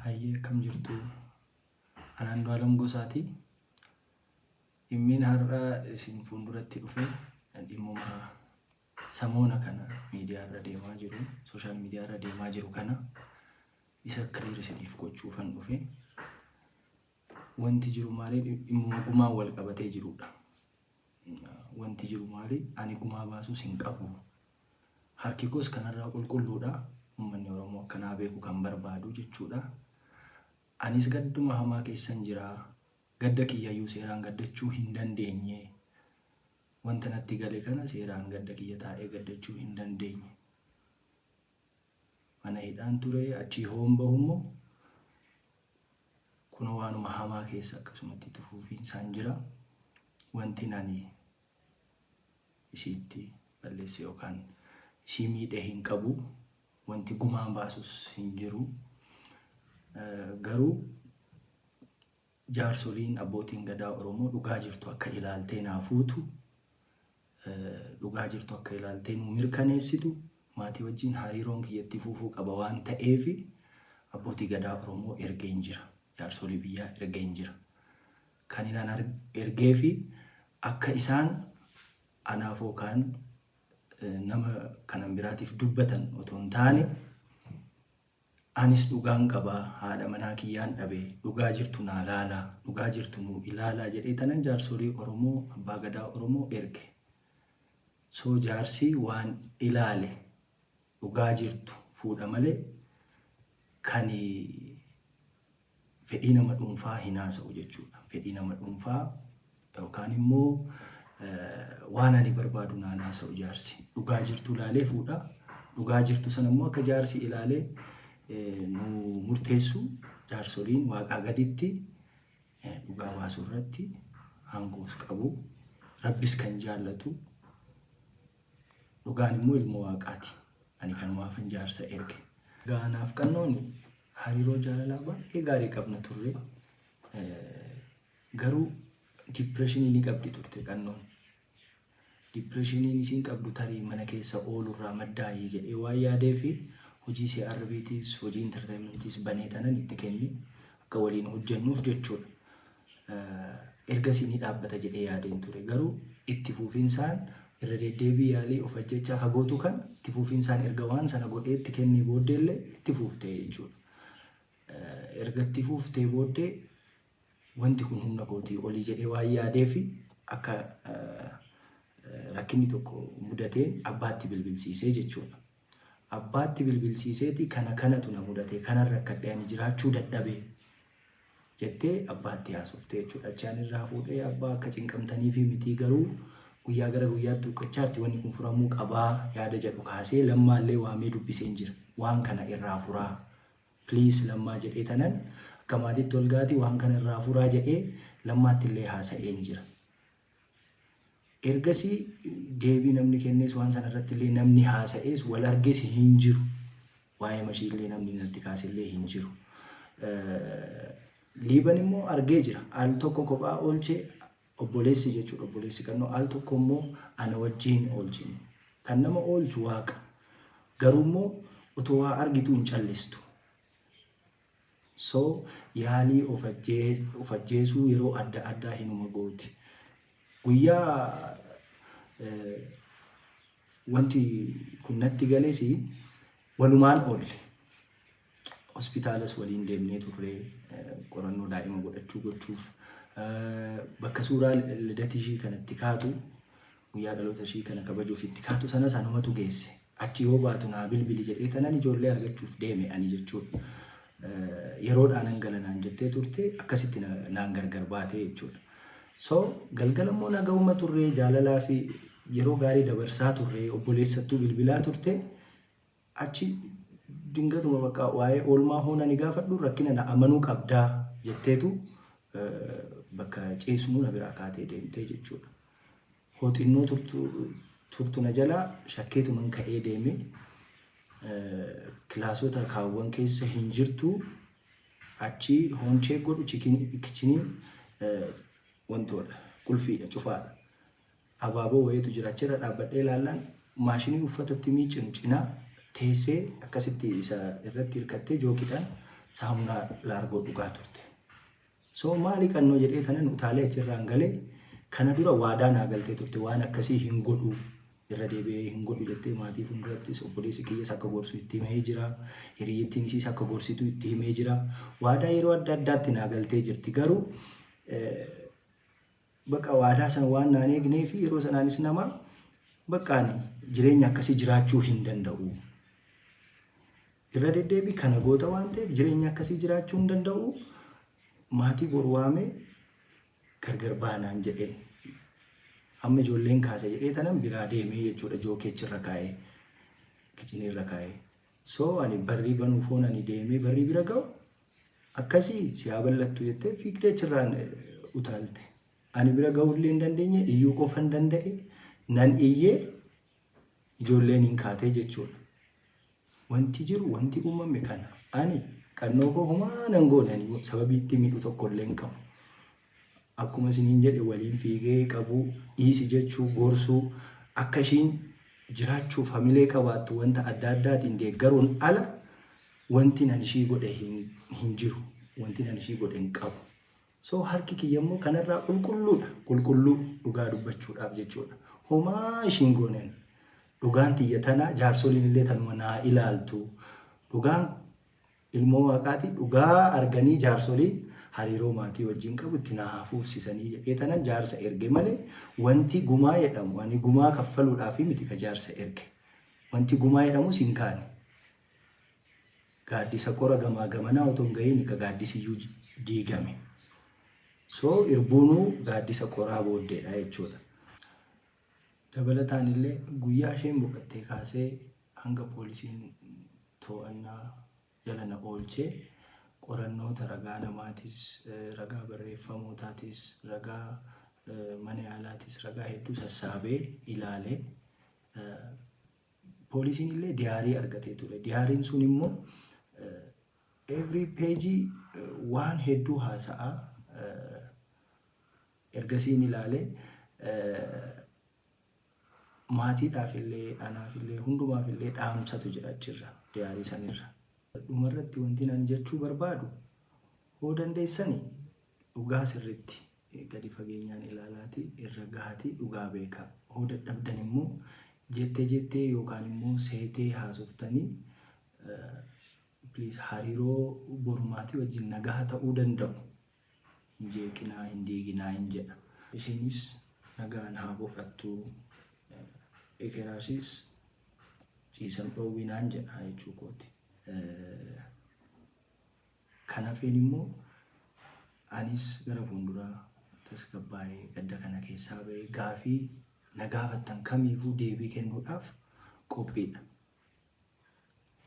Hayyee akkam jirtu an Andu'aalam Gosaati. Dhimmiin har'a isin fuulduratti dhufe dhimmuma samoona kana miidiyaa irra deemaa jiru, sooshaal miidiyaa irra deemaa jiru kana isa kiliir isiniif gochuufan dhufe. Wanti jiru maali? Dhimmuma gumaan wal qabatee jirudha. Wanti jiru maali? Ani gumaa baasuus hin qabu. Harki koos kanarraa qulqulluudha. Uummanni Oromoo akka naa beeku kan barbaadu jechuudha. Anis gadduma hamaa keessan jira. Gadda kiyyayyuu seeraan gaddachuu hin dandeenye. Wanta natti gale kana seeraan gadda kiyya taa'ee gaddachuu hin dandeenye. Mana hidhaan ture achii hoon bahummoo kunoo waanuma hamaa keessa akkasumatti itti fufiinsaan jira. Wantin ani isiitti balleesse yookaan isii miidhe hin qabu. Wanti gumaan baasus hin jiru. Garuu Jaarsoliin, Abbootiin Gadaa Oromoo dhugaa jirtu akka ilaaltee naa fuutu, dhugaa jirtu akka ilaaltee nuu mirkaneessitu, maatii wajjin hariiroon kiyya itti fuufuu qaba waan ta'eef Abbootii Gadaa Oromoo ergeen jira. Jaarsolii biyyaa ergeen jira. Kan inaan ergeef akka isaan anaaf yookaan nama kanan biraatiif dubbatan otoo hin taane Anis dhugaan qaba haadha manaa kiyyaan dhabe dhugaa jirtu naa laalaa dhugaa jirtu nuu ilaalaa jedhee tanan jaarsolii oromoo abbaa gadaa oromoo erge so jaarsii waan ilaale dhugaa jirtu fuudha malee kani fedhii nama dhuunfaa hin haasa'u jechuudha. Fedhii nama dhuunfaa yookaan immoo waan ani barbaadu naan haasa'u jaarsi. Dhugaa jirtu ilaalee fuudha. Dhugaa jirtu sana immoo akka jaarsi ilaalee nu murteessu jaarsoliin waaqaa gaditti dhugaa baasuu irratti aangoos qabu. Rabbis kan jaallatu dhugaan immoo ilmoo waaqaati. Ani kanumaafan jaarsa erge. Gaanaaf qannooni Hariiroo jaalalaa baay'ee gaarii qabna turre. Garuu dipireeshinii ni qabdi turte qannoon. Dipireeshiniin isiin qabdu tarii mana keessa oolurraa maddaa'ee jedhee waan yaadee fi hojii CRBtis hojii intarteeyimantiis banee tanan itti kenne akka waliin hojjennuuf jechuudha. ergasii ni dhaabbata jedhee yaadeen ture. Garuu itti fuufinsaan irra deddeebii yaalii of ajjechaa ka gootu kan itti fuufinsaan erga waan sana godhee itti kennee booddee illee itti fuuftee jechuudha. Erga itti fuuftee booddee wanti kun humna kootii olii jedhee waan yaadee fi akka rakkinni tokko mudateen abbaatti bilbilsiisee jechuudha. Abbaatti bilbilsiiseeti kana kanatu na mudate kanan rakkadhe ani jiraachuu dadhabe jettee abbaatti haasofte jechuudha. Achi ani irraa fuudhee abbaa akka cinqamtaniifii mitii garuu guyyaa gara guyyaatti huqqachaarti wanni kun furamuu qabaa yaada jedhu kaasee lammaallee waamee dubbiseen jira. Waan kana irraa furaa please lammaa jedhee tanan akka maatiitti ol gaati waan kana irraa furaa jedhee lammaattillee haasa'een jira. Ergasii deebii namni kennees waan sana irratti illee namni haasa'ees wal arges hin jiru. Waa'ee mashii illee namni natti kaase illee hin jiru. Liiban immoo argee jira. Al tokko kophaa oolchee obboleessi jechuudha obboleessi kannoo al tokko immoo ana wajjin oolchine. Kan nama oolchu waaqa. Garuu immoo otoo waa argituu hin callistu. So, yaalii of of ajjeesuu yeroo adda addaa hinuma gooti. Guyyaa wanti kun natti gales walumaan oolle. Hospitaalas waliin deemnee turre qorannoo daa'ima godhachuu gochuuf. Bakka suuraa lidatishii kanatti kaatu Guyyaa dhaloota ishii kana kabajuuf itti kaatu sanas anumatu geesse. Achi yoo baatu naa bilbili jedhee kanan ijoollee argachuuf deeme ani jechuudha. Yeroodhaa nan gala naan jettee turte akkasitti na- naan gargar baate jechuudha. So galgala immoo nagahuma turree jaalalaa fi yeroo gaarii dabarsaa turree obboleessattuu bilbilaa turte Achi dingatuma bakka waa'ee oolmaa hoo nani gaafadhu rakkina na amanuu qabdaa jetteetu bakka ciisnuu na biraa kaatee deemtee jechuudha. Hoo xinnoo turtu turtu na jalaa shakkeetuman ka'ee deeme kilaasota kaawwan keessa hin jirtu achi hoon cheek godhu chikin- kichiniin wantoodha qulfiidha cufaadha. Abaaboo wayiitu jira. Achirra dhaabbadhee ilaallaan maashinii uffata itti miiccinu cinaa teessee akkasitti isa irratti hirkattee jookiidhaan saamunaa laargoo dhugaa turte. So maali qannoo jedhee kanan utaalee achirraan galee kana dura waadaa naa galtee turte waan akkasii hin godhu irra deebi'ee hin godhu jettee maatii fuuldurattis obboleessi kiyyas akka gorsu itti himee jira. Hiriyyittiin isiis akka gorsitu itti himee jira. Waadaa yeroo adda addaatti naa galtee jirti garuu Baqa waadaa sana waan naan eegnee fi yeroo sanaanis nama bakka ani jireenya akkasii jiraachuu hin danda'u. Irra deddeebii kana goota waan ta'eef jireenya akkasii jiraachuu hin danda'u. Maatii bor waamee gargar baanaan jedhee. Amma ijoolleen kaasa jedhee tanan biraa deemee jechuudha jookeechi irra kaa'ee. Kichinii irra kaa'ee. So ani barrii banuuf hoon ani deemee barrii bira ga'u Akkasii si haa bal'attu jettee fiigdee achirraan utaalte. Ani bira ga'uullee hin dandeenye iyyuu qofan danda'e nan iyyee ijoolleen hin kaatee jechuudha. Wanti jiru wanti uumame kana ani qannoo koo humaa nan goone ani sababii itti miidhu tokkollee hin qabu. Akkuma isiniin jedhe waliin fiigee qabuu, dhiisi jechuu, gorsuu, akka ishiin jiraachuuf hamilee qabaattu wanta adda addaatiin deeggaruun ala wantin an ishii godhe hin jiru. Wantin an ishii godhe hin qabu. So harki kiyya immoo kanarraa qulqulluudha. Qulqulluu dhugaa dubbachuudhaaf jechuudha. Homaa ishiin goone ani. Dhugaan tiyya tana jaarsoliin illee tanuma naa ilaaltu. Dhugaan Ilmoo Waaqaati dhugaa arganii jaarsoliin hariiroo maatii wajjin qabu itti naa haa fuufsisanii jedhee tanan jaarsa erge male wanti gumaa jedhamu ani gumaa kaffaluudhaafi miti ka jaarsa erge wanti gumaa jedhamus hin kaane gaaddisa qora gamaa gamanaa otoo hin gahiini ka gaaddisiyyuu diigame so irbuunuu gaaddisa qoraa booddeedha jechuudha. Dabalataanillee guyyaa isheen boqattee kaasee hanga poolisiin to'annaa jala na oolchee qorannoota ragaa namaatis, ragaa barreeffamootaatis, ragaa mana yaalaatis ragaa hedduu sassaabee ilaale. Poolisiin illee diyaarii argatee ture. Diyaariin sun immoo every page waan hedduu haasa'a. Ergasiin ilaale maatiidhaaf illee anaaf illee hundumaaf illee dhaamsatu jira achirra diyaarii sanirra. Dhumarratti wanti ani jechuu barbaadu hoo dandeessani dhugaa sirriitti gadi fageenyaan ilaalaati irra gahaati dhugaa beekaa. Hoo dadhabdan immoo jettee jettee yookaan immoo seetee haasoftanii please hariiroo borumaatii wajjin nagaha ta'uu danda'u hin jeeqinaa, hin diiginaaiin jedha. Isiinis nagaan haa boqattuu, ekeraasis ciisan dhoowwinaan jedha jechuu kooti. Kan hafeen immoo anis gara fuulduraa tasgabbaa'ee gadda kana keessaa ba'ee gaafii na gaafattan kamiifuu deebii kennuudhaaf qophiidha.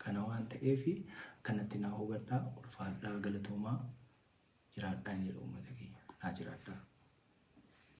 Kana waan ta'eef akkanatti naa hubadhaa ulfaadhaa galatoomaa jiraadhaan jedha uummata kiyya naa jiraadhaa.